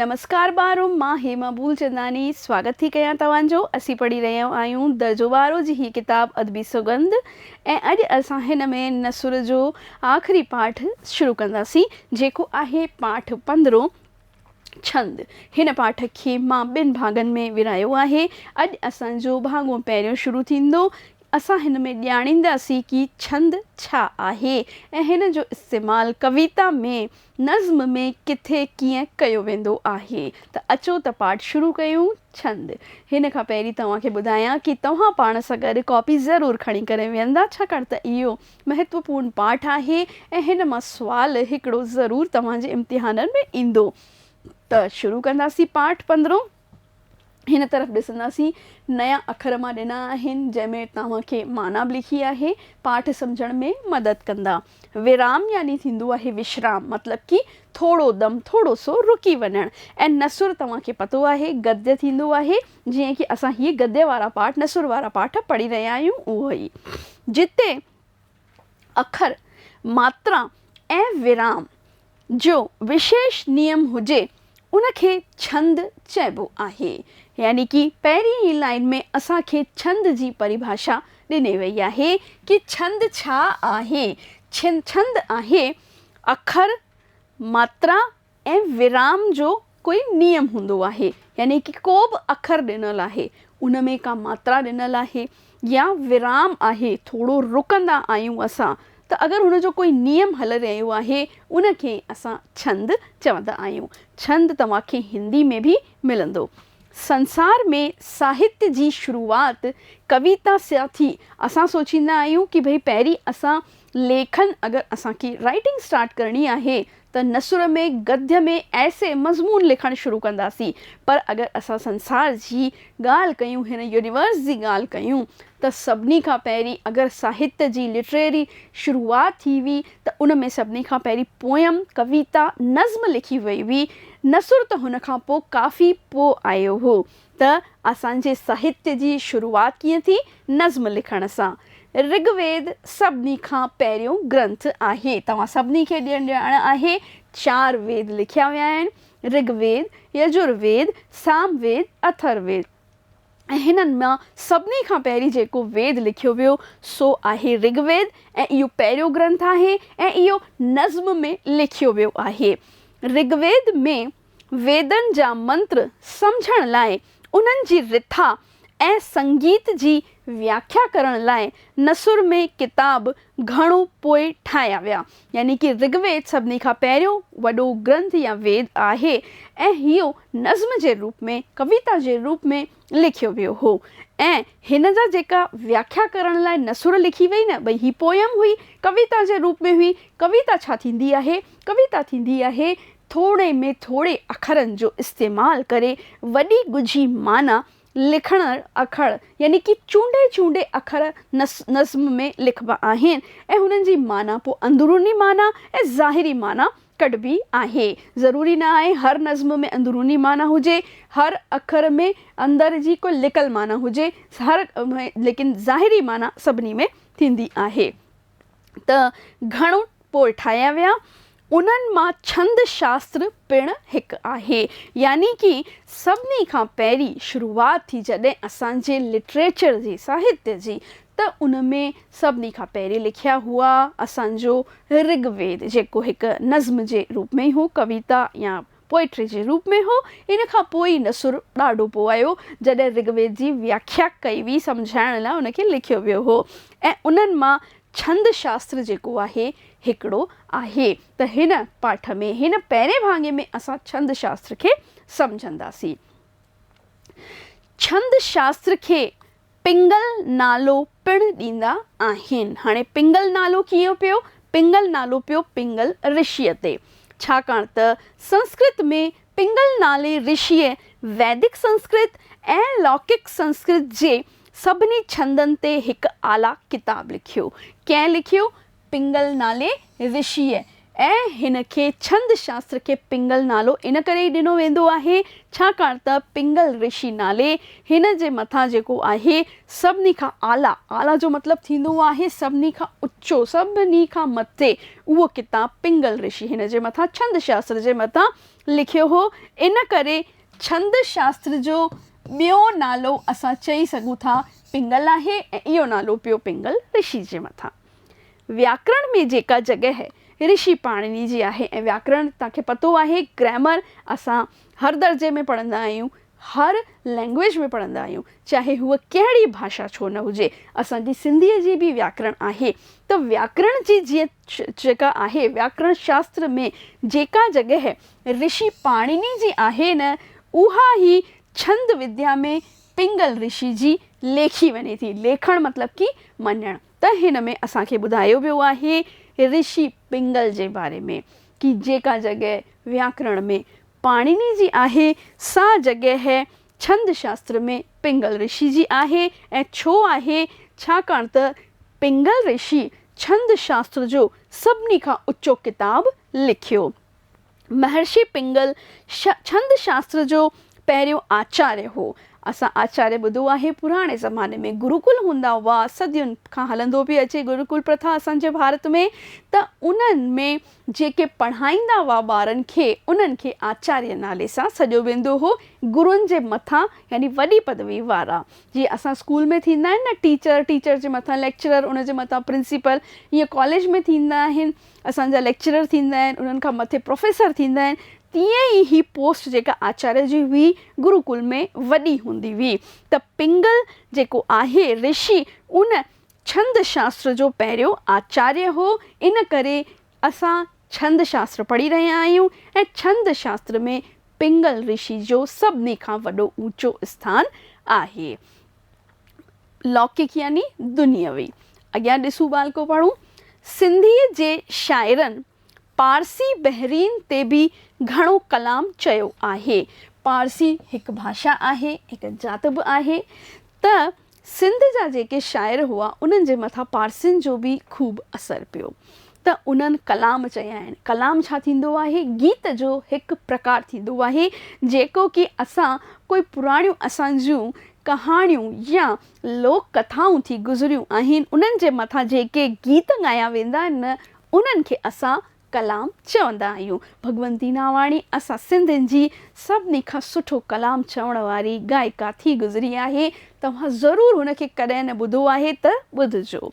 نمسڪار ٻارو مان هيما ڀولچنداني سواگت ٿي ڪيان توهان جو اسين پڙهي رهيا آهيون درجو ٻارو جي هي ڪتاب ادبي سوڳنڌ ۽ اڄ اسان هن ۾ نثر جو آخري پاٺ شروع ڪنداسين جيڪو آهي پاٺ پندرهون ڇند هن پاٺ کي مان ٻن ڀاڳن ۾ ورهايو آهي اڄ اسان جو ڀاڳو پهريون شروع ٿيندو اسان هن ۾ ڄاڻينداسين ڪي ڇند ڇا آهي ۽ هن جو استعمال ڪويتا ۾ نظم ۾ ڪٿي ڪيئن ڪيو ويندو آهي ته اچو ته پاٺ شروع ڪيون. ڇند، هن کان پهرين توهان کي ٻڌايان ڪي توهان پاڻ سان گڏ ڪاپي ضرور کڻي ڪري ويهندا ڇاڪاڻ ته اهو مهتوپورن پاٺ آهي ۽ هن مان سوال هڪڙو ضرور توهان جي امتحانن ۾ ايندو ته شروع ڪنداسين پاٺ پندرهون. هن طرف ڏسنداسين، نيا اکر مان ڏنا آهن، جنهن ۾ توهان کي معنيٰ به لکي آهي، پاٺ سمجهڻ ۾ مدد ڪندا. ورام يعني ٿيندو آهي وشرام، مطلب ڪي ٿورو دم، ٿورو سو رڪي وڃڻ. ۽ نثر توهان کي پتو آهي، گديه ٿيندو آهي، جيئن ڪي اسان هي گديه وارا پاٺ، نثر وارا پاٺ پڙهي رهيا آهيون، اهو ئي. جتي. اکر، ماترا ۽ ورام جو وشيش نيم هجي، ان کي ڇند چئبو آهي. يعني ڪي پهرين ئي لائين ۾ اسان کي ڇند جي پريڀاشا ڏني وئي آهي ڪي ڇند ڇا آهي؟ ڇند آهي اکر، ماترا ۽ ورام جو ڪوئي نيم هوندو آهي، يعني ڪي ڪو به اکر ڏنل آهي، ان ۾ ڪا ماترا ڏنل آهي يا ورام آهي، ٿورو رڪندا آهيون اسان، ته اگر هن جو ڪوئي نيم هلي رهيو آهي، ان کي اسان ڇند چوندا آهيون. ڇند توهان کي هندي ۾ به ملندو. سنسار ۾ ساهتيه جي شروعات ڪويتا سان ٿي. اسان سوچيندا آهيون ڪي ڀئي پهرين اسان ليکن اگر اسان کي رائيٽنگ اسٽارٽ ڪرڻي آهي ته نثر ۾ گديھ ۾ ايسي مضمون لکڻ شروع ڪنداسين پر اگر اسان سنسار جي ڳالھ ڪيون هن يونيورس جي ڳالھ ڪيون ته سڀني کان پهرين اگر ساهتيه جي لٽريري شروعات ٿي هئي ته ان ۾ سڀني کان پهرين پوئم، ڪويتا، نظم لکي وئي هئي نثر ته هن کان پوء ڪافي پوء آيو هو. ته اسان جي ساهتيه جي شروعات ڪيئن ٿي، نظم لکڻ سان. رگ ويد سڀني کان پهريون گرنٿ آهي. توهان سڀني کي ڄڻ ڄاڻ آهي چار ويد لکيا ويا آهن، رگ ويد، يجر ويد، سام ويد، اٿر ويد ۽ هنن مان سڀني کان پهرين جيڪو ويد لکيو ويو سو آهي رگ ويد ۽ اهو پهريون گرنٿ آهي ۽ اهو نظم ۾ لکيو ويو آهي. رگ ويد ۾ ويدن جا منتر سمجهڻ لاء، انهن جي رٿا ۽ سنگيت جي وياکيا ڪرڻ لاء نثر ۾ ڪتاب گهڻو پوء ٺاهيا ويا. يعني ڪي رگ ويد سڀني کان پهريون وڏو گرنٿ يا ويد آهي ۽ اهو نظم جي روپ ۾، ڪويتا جي روپ ۾، لکيو ويو هو ۽ هن جا جيڪا وياکيا ڪرڻ لاء نثر لکي وئي نه ڀئي هي پوئم هئي ڪويتا جي روپ ۾ هئي ڪويتا ڇا ٿيندي آهي ڪويتا ٿيندي آهي ٿوري ۾ ٿوري اکرن جو استعمال ڪري وڏي ڳجهي معنيٰ لکندڙ اکر يعني ڪي چونڊي چونڊي اکر نظم ۾ لکبا آهن ۽ هنن جي معنيٰ پوء اندروني معنيٰ ۽ ظاهري معنيٰ ڪڍبي آهي. ضروري نه آهي هر نظم ۾ اندروني معنيٰ هجي، هر اکر ۾ اندر جي ڪو لڪل معنيٰ هجي، هر ليڪن ظاهري معنيٰ سڀني ۾ ٿيندي آهي. ته گهڻ پوء ٺاهيا ويا. انهن مان ڇند شاستر پڻ هڪ آهي. يعني ڪي سڀني کان پهرين شروعات ٿي جڏهن اسان جي لٽريچر جي، ساهتيه جي، ته ان ۾ سڀني کان پهرين لکيا هئا اسان جو رگ ويد جيڪو هڪ نظم جي روپ ۾ هو، ڪويتا يا پوئٽري جي روپ ۾ هو. ان کان پوء ئي نثر ڏاڍو پوء آيو جڏهن رگ ويد جي وياکيا ڪئي وئي سمجهائڻ لاء ان کي لکيو ويو هو ۽ انهن مان ڇند شاستر جيڪو آهي هڪڙو آهي ته هن پاٺ ۾ هن پهرين ڀاڱي ۾ اسان ڇند شاستر کي سمجهنداسين. ڇند شاستر کي پنگل نالو پڻ ڏيندا آهن. هاڻي پنگل نالو ڪيئن پيو؟ پنگل نالو پيو پنگل رشيء تي، ڇاڪاڻ ته سنسڪرت ۾ پنگل نالي رشيء ويدڪ سنسڪرت ۽ لوڪڪ سنسڪرت جي سڀني ڇندن تي هڪ اعليٰ ڪتاب لکيو. ڪنهن لکيو؟ پنگل نالي رشيء ۽ هن کي ڇند شاستر کي پنگل نالو ان ڪري ئي ڏنو ويندو آهي، ڇاڪاڻ ته پنگل رشي نالي هن جي مٿان جيڪو آهي سڀني کان اعليٰ، اعليٰ جو مطلب ٿيندو آهي سڀني کان اچو، سڀني کان مٿي، اهو ڪتاب پنگل رشي هن جي مٿان ڇند شاستر جي مٿان لکيو هو، ان ڪري ڇند شاستر جو ٻيو نالو اسان چئي سگهون ٿا پنگل آهي ۽ اهو نالو پيو پنگل رشي جي مٿان. وياڪرڻ ۾ جيڪا جڳهه رشي پاڻني جي آهي ۽ وياڪرڻ توهان کي پتو آهي گرامر اسان هر درجي ۾ پڙهندا آهيون، هر لينگويج ۾ پڙهندا آهيون چاهي هوء ڪهڙي ڀاشا ڇو نه هجي. اسان جي سنڌيء جي به وياڪرڻ آهي ته وياڪرڻ جي جيئن جيڪا آهي وياڪرڻ شاستر ۾ جيڪا جڳهه رشي پاڻني جي آهي نه اها ئي ڇند وديا ۾ پنگل رشي جي ليکي وڃي ٿي. ليکڻ مطلب ڪي مڃڻ. ته هن ۾ اسان کي ٻڌايو ويو آهي رشي پنگل جي باري ۾ ڪي جيڪا جڳهه وياڪرڻ ۾ پاڻيني جي آهي سا جڳهه ڇند شاستر ۾ پنگل رشي جي آهي ۽ ڇو آهي ڇاڪاڻ ته پنگل رشي ڇند شاستر جو سڀني کان اچو ڪتاب لکيو مهرشي پنگل ڇند شاستر جو پهريون آچاريه هو. اسان آچاريه ٻڌو آهي پراڻي زماني ۾ گروڪل هوندا هئا، صدين کان هلندو پئي اچي گروڪل پرٿا اسان جي ڀارت ۾ ته انهن ۾ جيڪي پڙهائيندا هئا ٻارن کي انهن کي آچاريه نالي سان سڏيو ويندو هو گرون جي مٿان يعني وڏي پدوي وارا جيئن اسان اسڪول ۾ ٿيندا آهن نه ٽيچر ٽيچر جي مٿان ليڪچرر ان جي مٿان پرنسيپل ايئن ڪاليج ۾ ٿيندا آهن اسان جا ليڪچرر ٿيندا آهن، انهن کان مٿي پروفيسر ٿيندا آهن، تيئن ئي هي پوسٽ جيڪا آچاريه جي هئي، گرو ڪل ۾ وڏي هوندي هئي ته پنگل جيڪو آهي رشي ان ڇند شاستر جو پهريون آچاريه هو، ان ڪري اسان ڇند شاستر پڙهي رهيا آهيون ۽ ڇند شاستر ۾ پنگل رشي جو سڀني کان وڏو اوچو اسٿان آهي. لوڪڪ يعني دنيوي. اڳيان ڏسون ٻالڪو پڙهون. سنڌيء جي شاعرن پارسي بحرين تي به گهڻو ڪلام چيو آهي. پارسي هڪ ڀاشا آهي، هڪ ذات به آهي ته سنڌ جا جيڪي شاعر هئا، انهن جي مٿان پارسين جو به خوب اثر پيو. ته انهن ڪلام چيا آهن. ڪلام ڇا ٿيندو آهي؟ گيت جو هڪ پرڪار ٿيندو آهي، جيڪو ڪي اسان ڪوئي پراڻيون اسان جون ڪهاڻيون يا لوڪ ڪٿائون ٿي گذريون آهن، انهن جي مٿان جيڪي گيت ڳايا ويندا آهن، انهن کي اسان ڪلام چوندا آهيون. ڀڳونتي ناواڻي اسان سنڌين جي سڀني کان سٺو ڪلام چوڻ واري ڳائڪا ٿي گذري آهي. توهان ضرور هن کي ڪڏهن نه ٻڌو آهي ته ٻڌجو.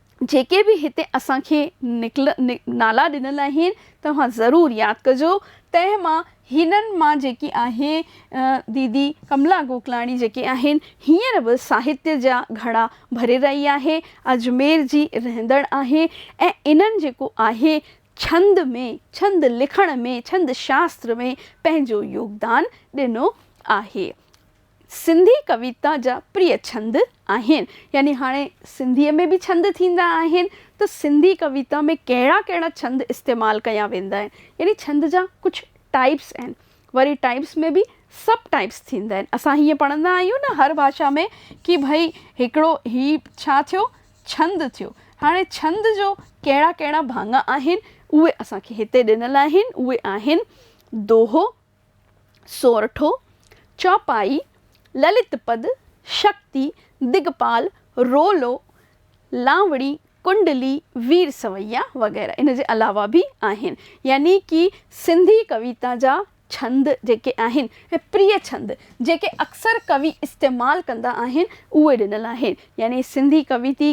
جيڪي به هتي اسان کي نڪل نالا ڏنل آهن توهان ضرور ياد ڪجو تنهن مان هنن مان جيڪي آهي ديدي ڪملا گوڪلاڻي جيڪي آهن هينئر به ساهتيه جا گهڙا ڀري رهي آهي اجمير جي رهندڙ آهي ۽ انهن جيڪو آهي ڇند ۾ ڇند لکڻ ۾ ڇند شاستر ۾ پنهنجو يوگدان ڏنو آهي سنڌي ڪويتا جا پريء ڇند آهن. يعني هاڻي سنڌيء ۾ به ڇند ٿيندا آهن ته سنڌي ڪويتا ۾ ڪهڙا ڪهڙا ڇند استعمال ڪيا ويندا آهن. يعني ڇند جا ڪجهه ٽائيپس آهن. وري ٽائيپس ۾ به سب ٽائيپس ٿيندا آهن. اسان هيئن پڙهندا آهيون نه هر ڀاشا ۾ ڪي ڀئي هڪڙو هي ڇا ٿيو ڇند ٿيو. هاڻي ڇند جو ڪهڙا ڪهڙا ڀاڱا آهن اهي اسان کي هتي ڏنل آهن اهي آهن، دوهو، سورٺو، چوپائي، للت پد، شڪتي، دگپال، رولو، لانوڙي، ڪنڊلي، وير سويا وغيره ان جي علاوه به آهن. يعني ڪي سنڌي ڪويتا جا ڇند جيڪي آهن ۽ پريي ڇند جيڪي اڪثر ڪوي استعمال ڪندا آهن اهي ڏنل آهن. يعني سنڌي ڪويتي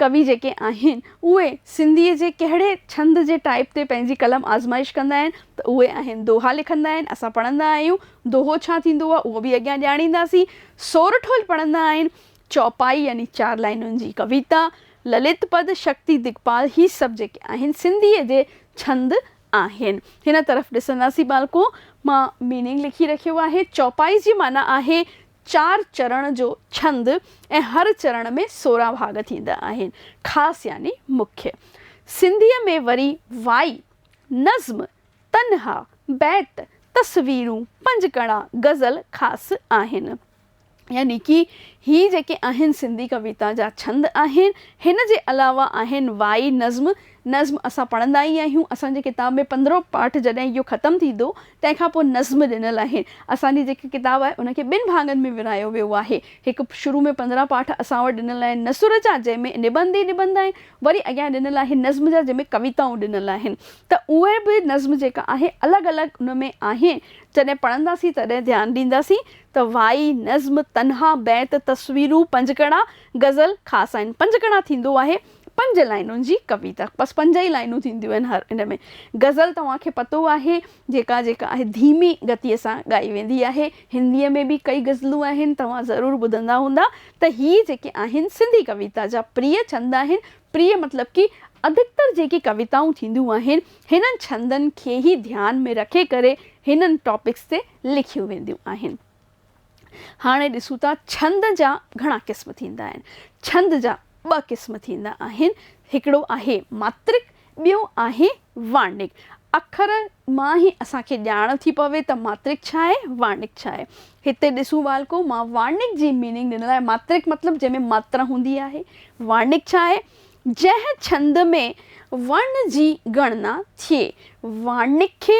ڪوي جيڪي آهن اهي سنڌيء جي ڪهڙي ڇند جي ٽائيپ تي پنهنجي قلم آزمائش ڪندا آهن ته اهي آهن دوها لکندا آهن اسان پڙهندا آهيون دوهو ڇا ٿيندو آهي اهو به اڳيان ڄاڻينداسين سورٺول پڙهندا آهن چوپائي يعني چار لائنن جي ڪويتا للت پد شڪتي دگپال هي سڀ جيڪي آهن سنڌيء جي ڇند آهن هن طرف ڏسنداسين ٻالڪو مان ميننگ لکي رکيو آهي چوپائي جي معنيٰ آهي چار چرڻ جو ڇند ۽ هر چرڻ ۾ سورهن ڀاڳ ٿيندا آهن. خاص يعني مکيه. سنڌيء ۾ وري وائي، نظم، تنها، بيت، تصويرون، پنجڪڙا، غزل خاص آهن. يعني ڪي هي جيڪي آهن سنڌي ڪويتا جا ڇند آهن. هن جي علاوه آهن وائي، نظم، نظم اسان پڙهندا ئي آهيون، اسان جي ڪتاب ۾ پندرهون پاٺ جڏهن اهو ختم ٿيندو، تنهن کان پوء نظم ڏنل آهن. اسان جي جيڪا ڪتاب آهي، ان کي ٻن ڀاڱن ۾ ورهايو ويو آهي. هڪ شروع ۾ پندرهن پاٺ اسان وٽ ڏنل آهن نثر جا، جنهن ۾ نبند ئي نبند آهن. وري اڳيان ڏنل آهن نظم جا، جنهن ۾ ڪويتائون ڏنل آهن. ته اهي به نظم جيڪا آهي، الڳ الڳ ان ۾ آهن. جڏهن پڙهنداسين، تڏهن ڌيان ڏينداسين ته وائي، نظم، تنها، بيت، تصويرون، پنجڪڙا، غزل، خاص آهن. پنجڪڙا ٿيندو آهي. پنج لائنن جي ڪويتا بس پنج ئي لائنون ٿينديون آهن هر ان ۾. غزل توهان کي پتو آهي جيڪا جيڪا آهي ڌيمي گتيء سان ڳائي ويندي آهي. هنديء ۾ به ڪئي غزلون آهن توهان ضرور ٻڌندا هوندا ته هي جيڪي آهن سنڌي ڪويتا جا پريه ڇند آهن. پريه مطلب ڪي ادڪتر جيڪي ڪويتائون ٿينديون آهن هنن ڇندن کي ئي ڌيان ۾ رکي ڪري هنن ٽاپڪس تي لکيون وينديون آهن. هاڻي ڏسون ٿا ڇند جا گهڻا قسم ٿيندا آهن. ڇند جا ٻه قسم ٿيندا آهن. هڪڙو آهي ماترڪ ٻيو آهي وارنڪ. اکر مان ئي اسان کي ڄاڻ ٿي پوي ته ماترڪ ڇا آهي وارنڪ ڇا آهي. هتي ڏسون ٻالڪو مان وارنڪ جي ميننگ ڏنل آهي ماترڪ مطلب جنهن ۾ ماترا هوندي آهي. وارنڪ ڇا آهي جنهن ڇند ۾ ورن جي ڳڻنا ٿئي. وارنڪ کي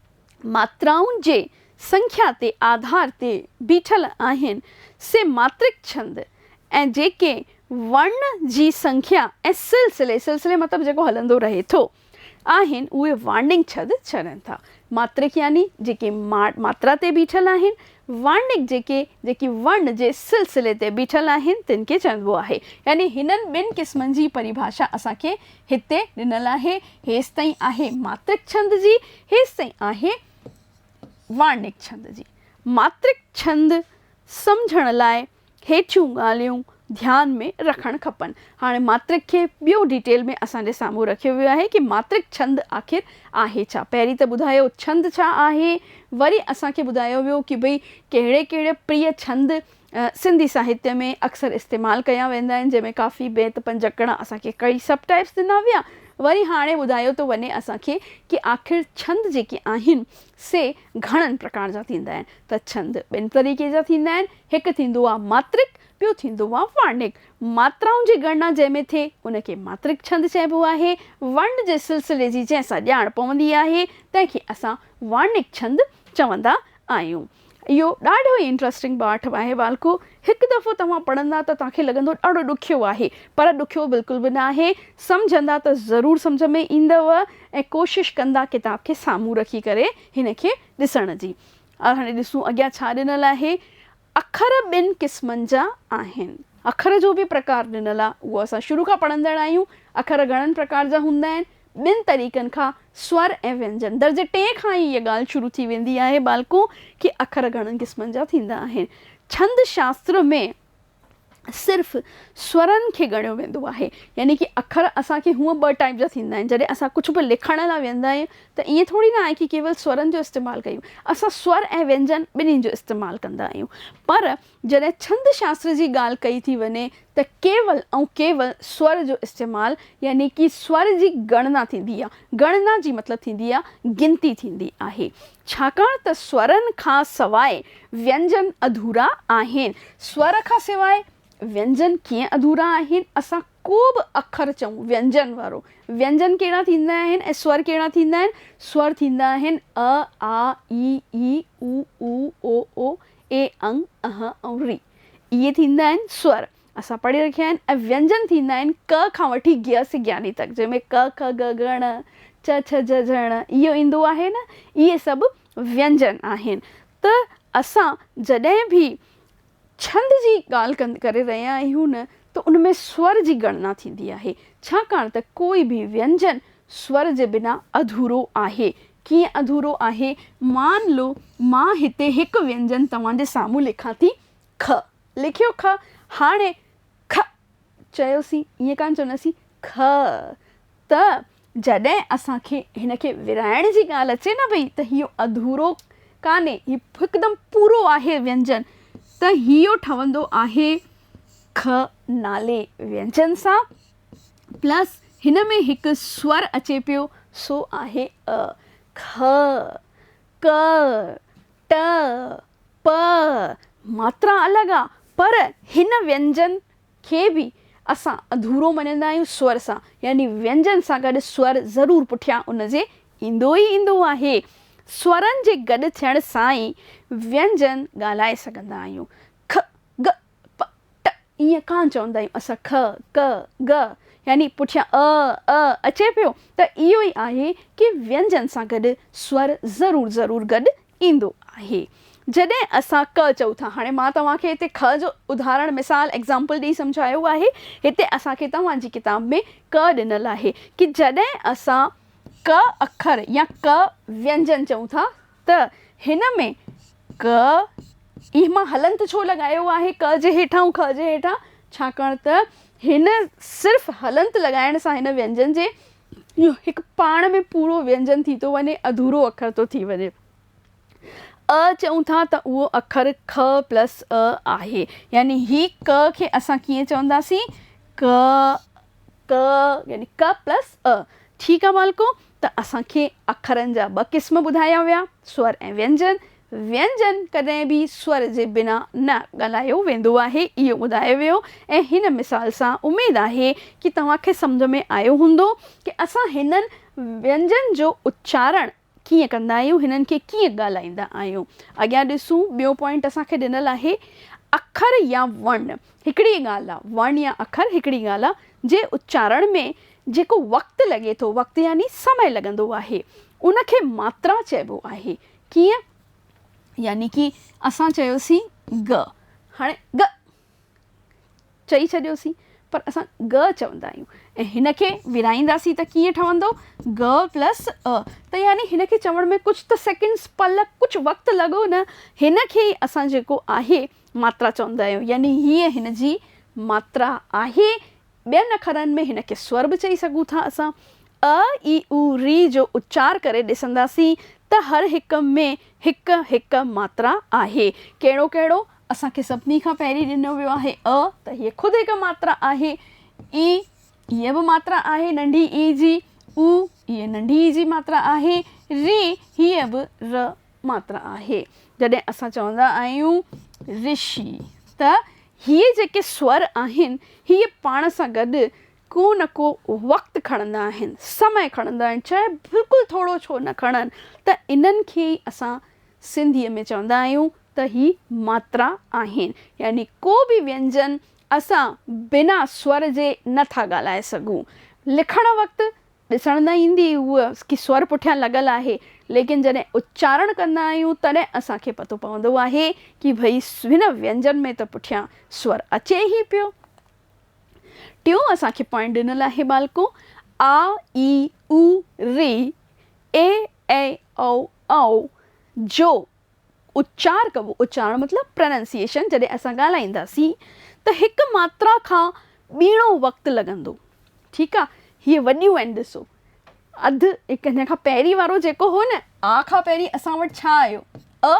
ماترائن جي سنکيا تي آڌار تي بيٺل آهن، سي ماترڪ ڇند ۽ جيڪي ورڻ جي سنکيا ۽ سلسلي، سلسلي مطلب جيڪو هلندو رهي ٿو، آهن، اهي وارنگ ڇد ڇرن ٿا. ماترڪ يعني جيڪي ماترا تي بيٺل آهن، وارنگ جيڪي جيڪي ورڻ جي سلسلي تي بيٺل آهن، تن کي چئبو آهي. يعني هنن ٻن قسمن جي پريڀاشا اسان کي هتي ڏنل آهي. هيستائين آهي ماترڪ ڇند جي، هيستائين آهي وارنڪ ڇند جي. ماترڪ ڇند سمجهڻ لاء هيٺيون ڳالهيون ڌيان ۾ رکڻ کپن. هاڻي ماترڪ کي ٻيو ڊيٽيل ۾ اسان جي سامهون رکيو ويو آهي ڪي ماترڪ ڇند آخر آهي ڇا؟ پهرين ته ٻڌايو ڇند ڇا آهي، وري اسان کي ٻڌايو ويو ڪي ڀئي ڪهڙي ڪهڙي پريئي ڇند سنڌي ساهتيه ۾ اڪثر استعمال ڪيا ويندا آهن جنهن ۾ ڪافي بيت پنجڪڙا اسان کي ڪئي سب ٽائيپس ڏنا ويا وري هاڻي ٻڌايو ٿو وڃي اسان کي ڪي آخر ڇند جيڪي آهن سي گهڻن پرڪار جا ٿيندا آهن ته ڇند ٻن طريقي جا ٿيندا آهن هڪ ٿيندو آهي ماترڪ ٻيو ٿيندو آهي وارنڪ ماترائن جي ڳڻنا جنهن ۾ ٿئي ان کي ماترڪ ڇند چئبو آهي ورن جي سلسلي جي جنهن سان ڄاڻ پوندي آهي تنهن کي اسان وارنڪ ڇند چوندا آهيون. اهو ڏاڍو ئي انٽرسٽنگ ٻاٽ آهي والڪو هڪ دفعو توهان پڙهندا ته توهان کي لڳندو ڏاڍو ڏکيو آهي پر ڏکيو بلڪل به ناهي سمجهندا ته ضرور سمجهه ۾ ايندو ۽ ڪوشش ڪندا ڪتاب کي سامهون رکي ڪري هن کي ڏسڻ جي هاڻي ڏسون اڳيان ڇا ڏنل آهي اکر ٻن قسمن جا آهن اکر جو به پرڪار ڏنل آهي اهو اسان شروع کان پڙهندڙ آهيون اکر گهڻن پرڪار جا هوندا آهن ٻن طريقن کان، سور ۽ وينجن. درجي ٽئين کان ئي هيء ڳالهه شروع ٿي ويندي آهي. ٻالڪون کي اکر گهڻن قسمن جا ٿيندا آهن. ڇند شاستر ۾ صرف سورن کي ڳڻيو ويندو آهي. يعني ڪي اکر اسان کي هونء ٻه ٽائيپ جا ٿيندا آهن. جڏهن اسان ڪجهه به لکڻ لاء ويهندا آهيون ته ائين ٿوري نه آهي ڪي ڪيول سورن جو استعمال ڪيون. اسان سور ۽ وينجن ٻنهي جو استعمال ڪندا آهيون. پر جڏهن ڇند شاستر جي ڳالهه ڪئي ٿي وڃي ته ڪيول ۽ ڪيول سور جو استعمال يعني ڪي سور جي ڳڻنا ٿيندي آهي. ڳڻنا جي مطلب ٿيندي آهي گنتي ٿيندي آهي. ڇاڪاڻ ته سورن کان سواء وينجن اڌورا آهن. سور کان سواء وينجن ڪيئن اڌورا آهن؟ اسان ڪو به اکر چئون وينجن وارو، وينجن ڪهڙا ٿيندا آهن ۽ سور ڪهڙا ٿيندا آهن؟ سور ٿيندا آهن، ء، آ، اي، اي، او، او، او، او، اي، انگ، اح ۽ ري. اهي ٿيندا آهن سور. اسان پڙهي رکيا آهن ۽ وينجن ٿيندا آهن ڪ کان وٺي گيا سگياني تڪ جنهن ۾ ڪ، ک، ڳ، ڳ، ڻ، چ، ڇ، جھه، جھه، ڻ اهو ايندو آهي نه اهي سڀ وينجن آهن ته اسان جڏهن به ڇند جي ڳالهه ڪند ڪري رهيا آهيون نه ته ان ۾ سور جي ڳڻنا ٿيندي آهي ڇاڪاڻ ته ڪوئي به وينجن سور جي بنا اڌورو آهي. ڪيئن اڌورو آهي؟ مان لو مان هتي هڪ وينجن توهان جي سامهون لکان ٿي خ. لکيو خ. هاڻي کء چيوسين، ائين ڪانه چونداسين کء. ته جڏهن اسان کي هن کي ورهائڻ جي ڳالهه اچي نه پئي ته هيء اڌورو ڪانهي، هي هڪدم پورو آهي وينجن، ته هيء ٺهندو آهي خ نالي وينجن سان. پلس هن ۾ هڪ سور اچي پيو سو آهي ء، کء، ڪء، ٽء، پء، ماترا الڳ آ پر هن وينجن کي به اسان اڌورو مڃندا آهيون سور سان يعني وينجن سان گڏ سور ضرور پٺيان ان جي ايندو ئي ايندو آهي. سورن جي گڏ ٿيڻ سان ئي وينجن ڳالهائي سگهندا آهيون. کڳ. پ، ٽ ائين ڪانه چوندا آهيون اسان ک، ڪ، ڳ يعني پٺيان ء، ء اچي پيو ته اهو ئي آهي ڪي وينجن سان گڏ سور ضرور ضرور گڏ ايندو آهي. جڏهن اسان ڪ چئون ٿا هاڻي مان توهان کي هتي ک جو اڌارڻ مثال ايگزامپل ڏئي سمجهايو آهي هتي اسان کي توهان جي ڪتاب ۾ ڪ ڏنل آهي ڪي جڏهن اسان ڪ اکر يا ڪ وينجن چئون ٿا ته هن ۾ ڪ اي مان هلنت ڇو لڳايو آهي ڪ جي هيٺان ۽ کهه جي هيٺان؟ ڇاڪاڻ ته هن صرف هلنت لڳائڻ سان هن وينجن جي اهو هڪ پاڻ ۾ پورو وينجن ٿي ٿو وڃي اڌورو اکر ٿو ٿي وڃي. ء چئون ٿا ته اهو اکر ک پلس ء آهي يعني هي ڪ کي اسان ڪيئن چونداسين ڪ ڪ يعني ڪ پلس ء ٺيڪ آهي مالڪو ته اسان کي اکرن جا ٻه قسم ٻڌايا ويا، سور ۽ وينجن. وينجن ڪڏهن به سور جي بنا نه ڳالهايو ويندو آهي، اهو ٻڌايو ويو ۽ هن مثال سان اميد آهي ڪي توهان کي سمجهه ۾ آيو هوندو ڪي اسان هنن وينجن جو اچارڻ ڪيئن ڪندا آهيون، هنن کي ڪيئن ڳالهائيندا آهيون. اڳيان ڏسون ٻيو پوائنٽ اسان کي ڏنل آهي اکر يا ورن هڪڙي ڳالهه آ، ورن يا اکر هڪڙي ڳالهه آ جي اچارڻ ۾ جيڪو وقت لڳي ٿو، وقت يعني سمئي لڳندو آهي، ان کي ماترا چئبو آهي. ڪيئن؟ يعني ڪي اسان چيوسين ڳ، هاڻي ڳ چئي ڇڏيوسين، پر اسان ڳ چوندا آهيون ۽ هن کي ورهائينداسين ته ڪيئن ٺهندو، ڳ پلس ء، ته يعني هن کي چوڻ ۾ ڪجهه ته سيڪنڊس، پل، ڪجهه وقت لڳو نه، هن کي ئي اسان جيڪو آهي ماترا چوندا آهيون، يعني هيء هن جي ماترا آهي، ٻين اکرن ۾ هن کي سور به چئي سگهون ٿا اسان ء، اي، او، ري جو اچار ڪري ڏسنداسين ته هر هڪ ۾ هڪ هڪ ماترا آهي. ڪهڙو ڪهڙو؟ اسان کي سڀني کان پهرين ڏنو ويو آهي ء ته هيء خود هڪ ماترا آهي، اي، هيء به ماترا آهي ننڍي اي جي، او، هيء ننڍي اي جي ماترا آهي، ري، هيء به ر ماترا آهي. جڏهن اسان چوندا آهيون رشي ته هي جيڪي سور آهن، هي پاڻ سان گڏ ڪو نه ڪو وقت کڻندا آهن، سمئي کڻندا آهن، چاهي بلڪل ٿورو ڇو نه کڻن ته انهن کي ئي اسان سنڌيء ۾ چوندا آهيون ته هي ماترا آهن، يعني ڪو به وينجن اسان بنا سور جي نه ٿا ڳالهائي سگهون، لکڻ وقت ڏسڻ نه ايندي هئي ڪي سور پٺيان لڳل آهي ليڪن جڏهن اچارڻ ڪندا آهيون تڏهن اسان کي پتو پوندو آهي ڪي ڀئي هن وينجن ۾ ته پٺيان سور اچي ئي پيو. ٽيون اسان کي پوائنٽ ڏنل آهي ٻالڪو آ اي او ري اي اي او او جو اچار ڪبو، اچارڻ مطلب Pronunciation، جڏهن اسان ڳالهائينداسين ته هڪ ماترا کان ٻيڻو وقت لڳندو ٺيڪ آ هي وڏيون آهن ڏسو اڌ هڪ هن کان پهرين وارو جيڪو هو نه آ کان پهرين اسان وٽ ڇا آيو ا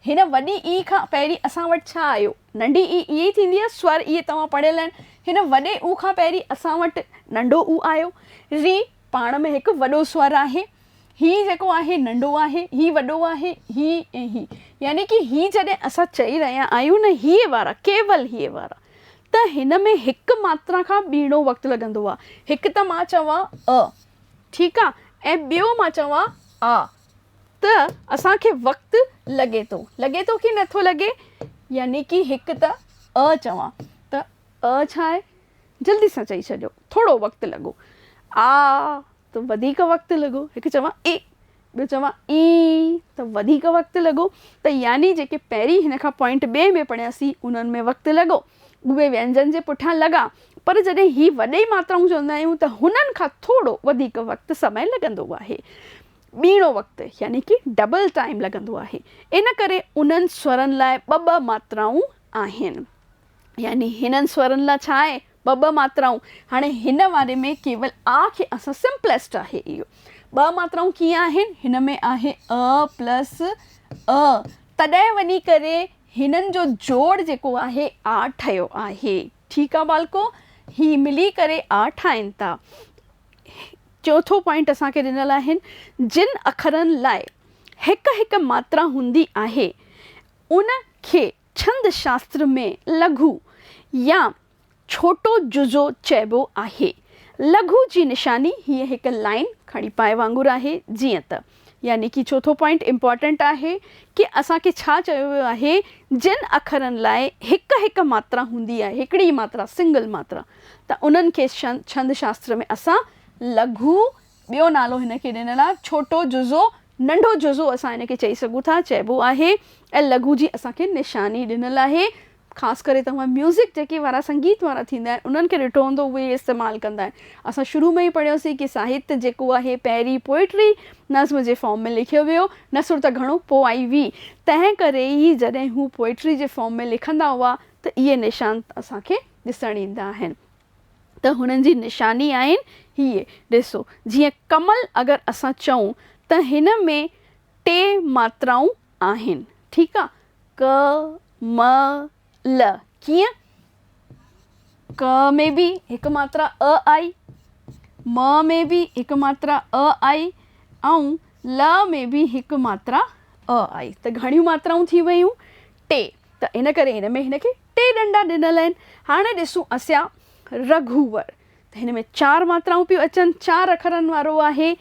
هن وڏي اي کان پهرين اسان وٽ ڇا آيو ننڍي اي اهي ئي ٿيندي آ سور اهي توهان پڙهيل آهن هن وڏي او کان پهرين اسان وٽ ننڍو او آيو ري پاڻ ۾ هڪ وڏو سور آهي هي جيڪو آهي ننڍو آهي، هي وڏو آهي، هي ۽ هي. يعني ڪي هي جڏهن اسان چئي رهيا آهيون نه هيء وارا، ڪيول هيء وارا، ته هن ۾ هڪ ماترا کان ٻيڻو وقت لڳندو آهي. هڪ ته مان چوان ء، ٺيڪ آ، ۽ ٻيو مان چوان آ، ته اسان کي وقت لڳي ٿو. لڳي ٿو ڪي نٿو لڳي؟ يعني ڪي هڪ ته ء چوان ته ء ڇا آهي؟ جلدي سان چئي ڇڏيو، ٿورو وقت لڳو. آء ته وڌيڪ وقت لڳو. هڪ چوان اي، ٻيو چوان اي ته وڌيڪ وقت لڳو. ته يعني جيڪي پهرين هن کان پوائنٽ ٻئي ۾ پڙهياسين، انهن ۾ وقت لڳو. اهي وينجن جي پٺيان لڳا. پر جڏهن هي وڏي ماترائون چوندا آهيون ته هنن کان ٿورو وڌيڪ وقت، سمئي، لڳندو آهي. ٻيڻو وقت يعني ڪي ڊبل ٽائيم لڳندو آهي. ان ڪري انهن سورن لاء ٻه ٻه ماترائون آهن. يعني هنن سورن لا ڇا آهي ٻه ٻه ماترائون هاڻي هن واري ۾ ڪيول آ کي اسان سمپلسٽ آهي اهو ٻه ماترائون ڪيئن آهن هن ۾ آهي ا پلس ا تڏهن وڃي ڪري هنن جو جوڙ جيڪو آهي آ ٺهيو آهي ٺيڪ آ ٻالڪو هي ملي ڪري آ ٺاهين ٿا چوٿون پوائنٽ اسان کي ڏنل آهن جن اکرن لاء هڪ هڪ ماترا هوندي آهي ان کي ڇند شاستر ۾ لگهو يا ڇوٽو جزو چئبو آهي. لگهو جي نشاني هيء هڪ لائين، ڪھاڙي پائي وانگر آهي، جيئن ته. يعني ڪي چوٿون پوائنٽ امپارٽنٽ آهي ڪي اسان کي ڇا چيو ويو آهي جن اکرن لاء هڪ هڪ ماترا هوندي آهي، هڪڙي ئي ماترا، سنگل ماترا، ته انهن کي ڇند شاستر ۾ اسان لگهو ٻيو نالو هن کي ڏنل آهي ڇوٽو جزو، ننڍو جزو اسان هن کي چئي سگهون ٿا، چئبو آهي ۽ لگهو جي اسان کي نشاني ڏنل آهي. خاص ڪري توهان ميوزڪ جيڪي وارا سنگيت وارا ٿيندا آهن انهن کي ڏٺو هوندو اهي ئي استعمال ڪندا آهن. اسان شروع ۾ ئي پڙهيوسين ڪي ساهت جيڪو آهي پهرين پوئٽري، نظم، جي فارم ۾ لکيو ويو، نثر ته گهڻو پوء آئي وي، تنهن ڪري ئي جڏهن هو پوئٽري جي فارم ۾ لکندا هئا ته اهي نشان اسان کي ڏسڻ ايندا آهن. ته هنن جي نشاني آهن هيء، ڏسو، جيئن ڪمل اگر اسان چئون ته هن ۾ ٽي ماترائون آهن، ٺيڪ آ، ڪه، م، ل، ڪيئن؟ ڪه ۾ به هڪ ماترا ء آئي، م ۾ به هڪ ماترا ء آئي ۽ ل ۾ به هڪ ماترا ء آئي ته گهڻيون ماترائون ٿي ويون؟ ٽي. ته ان ڪري هن ۾ هن کي ٽي ڏنڊا ڏنل آهن. هاڻي ڏسون اسيا رگهوور ته هن ۾ چار ماترائون پيون اچن، چار اکرن وارو آهي.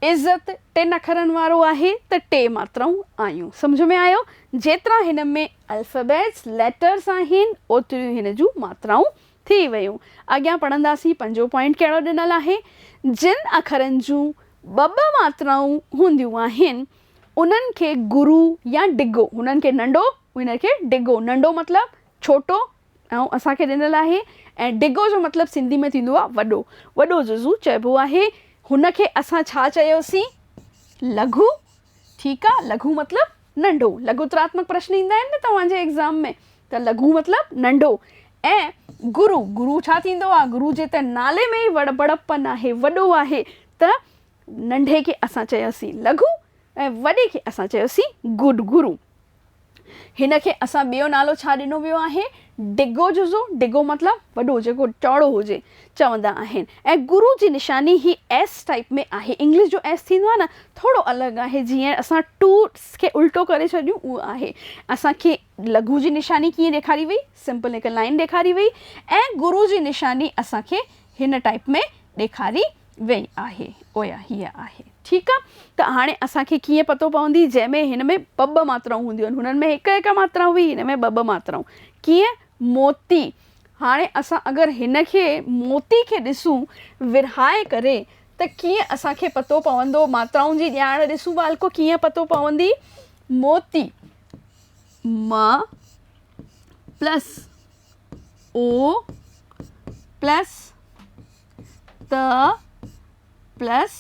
عزت ٽن اکرن وارو آهي ته ٽي ماترائون آيون. سمجهه ۾ آيو؟ جيترا هن ۾ الفابيٽس، ليٽرز، آهن اوتريون ئي هن جون ماترائون ٿي ويون. اڳيان پڙهنداسين پنجون پوائنٽ ڪهڙو ڏنل آهي. جن اکرن جون ٻه ٻه ماترائون هونديون آهن انهن کي گرو يا ڊگهو، هنن کي ننڊو، هنن کي ڊگهو، ننڊو مطلب ڇوٽو ۽ اسان کي ڏنل آهي ۽ ڊگهو جو مطلب سنڌي ۾ ٿيندو آهي وڏو، وڏو جزو چئبو آهي، هن کي اسان ڇا چيوسين؟ لگهو، ٺيڪ آ، لگهو مطلب ننڊو، لگهوتراتمڪ پرشن ايندا آهن نه توهان جي ايگزام ۾ ته لگهو مطلب ننڊو ۽ گرو، گرو ڇا ٿيندو آهي، گرو جي ته نالي ۾ ئي وڙ بڙپن آهي، وڏو آهي ته ننڍي کي اسان چياسين لگهو ۽ وڏي کي اسان چيوسين گڊ گرو. هن کي اسان ٻيو نالو ڇا ڏنو ويو آهي؟ ڊگهو جزو، ڊگهو مطلب وڏو جيڪو چوڙو هجي، چوندا آهن ۽ گرو جي نشاني هي ايس ٽائيپ ۾ آهي، انگلش جو ايس ٿيندو آهي نه، ٿورو الڳ آهي، جيئن اسان ٽو کي الٽو ڪري ڇڏيون اهو آهي. اسان کي لگهو جي نشاني ڪيئن ڏيکاري وئي؟ سمپل هڪ لائين ڏيکاري وئي ۽ گرو جي نشاني اسان کي هن ٽائيپ ۾ ڏيکاري ويئي آهي اويا هيء آهي. ٺيڪ آ ته هاڻي اسان کي ڪيئن پتو پوندي جنهن ۾ هن ۾ ٻه ٻه ماترائون هونديون آهن هنن ۾ هڪ هڪ ماترا هئي هن ۾ ٻه ٻه ماترائون ڪيئن موتي هاڻي اسان اگر هن کي موتي کي ڏسون ورهائي ڪري ته ڪيئن اسان کي پتو پوندو ماترائن جي ڄاڻ ڏسون ٻالڪو ڪيئن پتو پوندي موتي م پلس او پلس ت پلس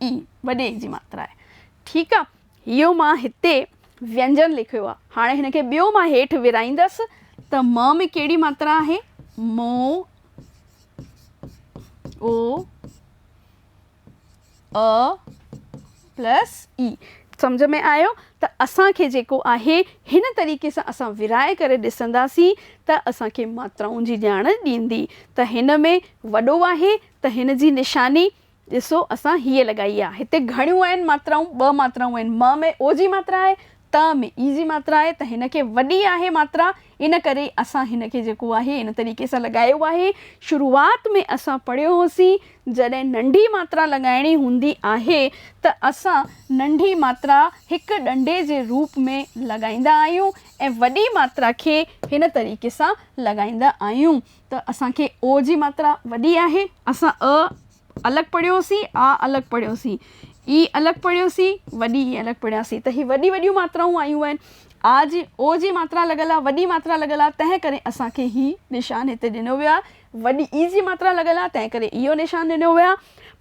اي وڏي اي جي ماترا آهي ٺيڪ آ اهو مان هتي وينجن لکيو آهي هاڻي هن کي ٻيو مان هيٺ ورائيندس ته م ۾ ڪهڙي ماترا آهي مو او پلس اي سمجهه ۾ آيو ته اسان کي جيڪو آهي هن طريقي سان اسان ورهائي ڪري ڏسنداسين ته اسان کي ماترائن جي ڄاڻ ڏيندي ته هن ۾ وڏو آهي ته هن جي نشاني ڏسو اسان هيء لڳائي آهي هتي گهڻيون آهن ماترائون ٻه ماترائون آهن م ۾ او جي ماترا آهي ت ۾ ايزي ماترا آهي ته هن کي وڏي آهي ماترا ان ڪري اسان هن کي جيڪو آهي ان طريقي سان لڳايو آهي شروعات ۾ اسان پڙهيو هوسين جڏهن ننڍي ماترا لڳائڻي هوندي آهي ته اسان ننڍي ماترا هڪ ڏنڊي جي روپ ۾ لڳائيندا آهيون ۽ وڏي ماترا کي هن طريقي سان لڳائيندا آهيون ته اسان کي او جي ماترا وڏي آهي اسان ء الڳ پڙهيو سين، آ الڳ پڙهيو سين، اي الڳ پڙهيو سين، وڏي اي الڳ پڙهيا سين ته هي وڏي وڏيون ماترائون آيون آهن. آ جي او جي ماترا لڳل آ، وڏي ماترا لڳل آ، تنهن ڪري اسان کي هي نشان هتي ڏنو ويو آهي. وڏي اي جي ماترا لڳل آ، تنهن ڪري اهو نشان ڏنو ويو آ.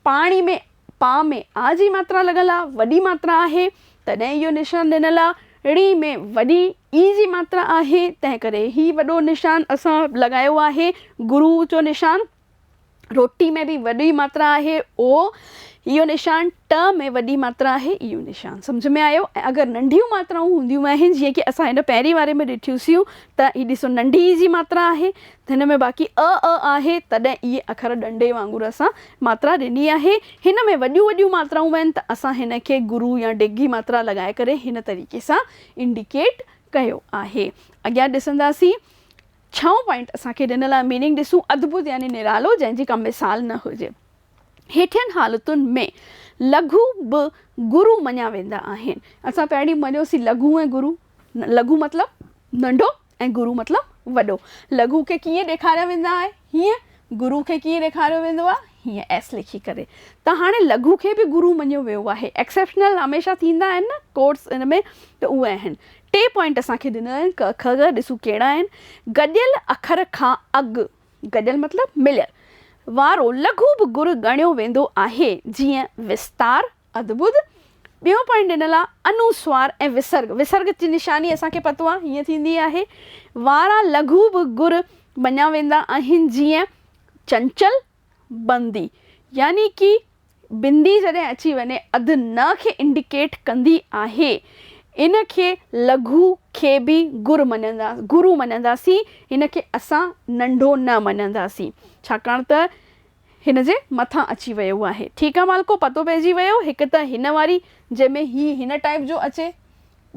پاڻي ۾ پا ۾ آ جي ماترا لڳل آ، وڏي ماترا آهي، تڏهن اهو نشان ڏنل آ. ڙي ۾ وڏي اي جي ماترا آهي، تنهن ڪري هي وڏو نشان اسان لڳايو آهي، گرو جو نشان. روٽي ۾ به وڏي ماترا آهي او اهو نشان، ٽ ۾ وڏي ماترا آهي اهو نشان. سمجهه ۾ آيو؟ ۽ اگر ننڍيون ماترائون هونديون آهن جيئن ڪي اسان هن پهرين واري ۾ ڏٺيونسيون ته هي ڏسو ننڍي ئي جي ماترا آهي ته هن ۾ باقي ء ا آهي تڏهن اهي اکر ڏنڊي وانگر اسان ماترا ڏني آهي هن ۾ وڏيون وڏيون ماترائون آهن ته اسان هن کي گرو يا ڊگهي ماترا لڳائي ڪري هن طريقي سان انڊيڪيٽ ڪيو آهي اڳيان ڏسنداسين ڇهون پوائنٽ اسان کي ڏنل آهي ميننگ ڏسون ادڀت يعني نرالو جنهن جي ڪا مثال نه هجي. هيٺين حالتن ۾ لگهو به گرو مڃيا ويندا آهن. اسان پهرين مڃيوسين لگهو ۽ گرو. لگهو مطلب ننڍو ۽ گرو مطلب وڏو. لگهو کي ڪيئن ڏيکاريا ويندا آهي هيئن گرو کي ڪيئن ڏيکاريو ويندو آهي هيئن ايس لکي ڪري ته هاڻي لگهو کي به گرو مڃيو ويو آهي ايڪسيپشنل هميشه ٿيندا آهن نه ڪورس ان ۾ ته اهي آهن ٽي پوائنٽ اسان کي ڏنل آهن ڪه که ڳ ڏسون ڪهڙا آهن گڏيل اکر کان اڳ گڏيل مطلب مليل وارو لگهو به گر ڳڻيو ويندو آهي جيئن وستار ادبوڌ ٻيون پوائنٽ ڏنل آهي انوسوار ۽ وسرگ وسرگ جي نشاني اسان کي پتو آهي هيئن ٿيندي آهي وارا لگهو به گر مڃيا ويندا آهن جيئن چنچل بندي يعني ڪي بندي جڏهن اچي وڃي اڌ ن کي انڊيڪيٽ ڪندي آهي. ان کي لگهو کي به گر مڃندا گرو مڃنداسين هن کي اسان ننڍو نه مڃنداسين ڇاڪاڻ ته هن جي مٿان اچي ويو آهي ٺيڪ آ مالڪو پتو پئجي ويو هڪ ته هن واري جنهن ۾ هي هن ٽائيپ جو اچي.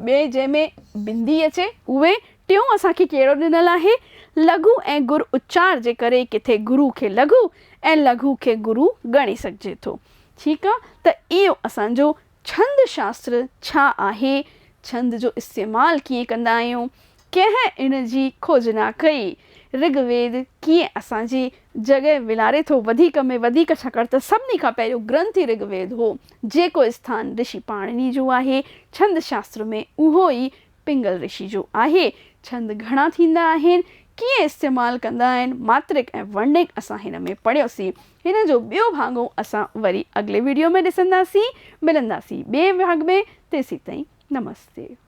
ٻئي جنهن ۾ بندي اچي اهي. ٽيون اسان کي ڪهڙو ڏنل آهي؟ لگهو ۽ گر اچار جي ڪري ڪٿي گرو کي لگهو ۽ لگهو کي گرو ڳڻي سگهجي ٿو. ٺيڪ آ ته اهو اسان جو ڇند شاستر ڇا آهي؟ ڇند جو استعمال ڪيئن ڪندا آهيون؟ ڪنهن ان جي کوج نه ڪئي. رگ ويد ڪيئن اسان جي جڳهه ولاري ٿو؟ وڌيڪ ۾ وڌيڪ ڇاڪاڻ ته سڀني کان پهريون گرنٿ ئي رگ ويد هو، جيڪو اسٿان رشي پاڻني جو آهي. ڇند شاستر ۾ اهو ئي پنگل رشي جو آهي. ڇند گهڻا ٿيندا آهن، ڪيئن استعمال ڪندا آهن، ماترڪ ۽ ورنڪ اسان هن ۾ پڙهيوسين. هن جو ٻيو ڀاڱو اسان وري اڳلي وڊيو ۾ ڏسنداسين. ملنداسين ٻئي ڀاڱ ۾ تيسيتائين نمستي.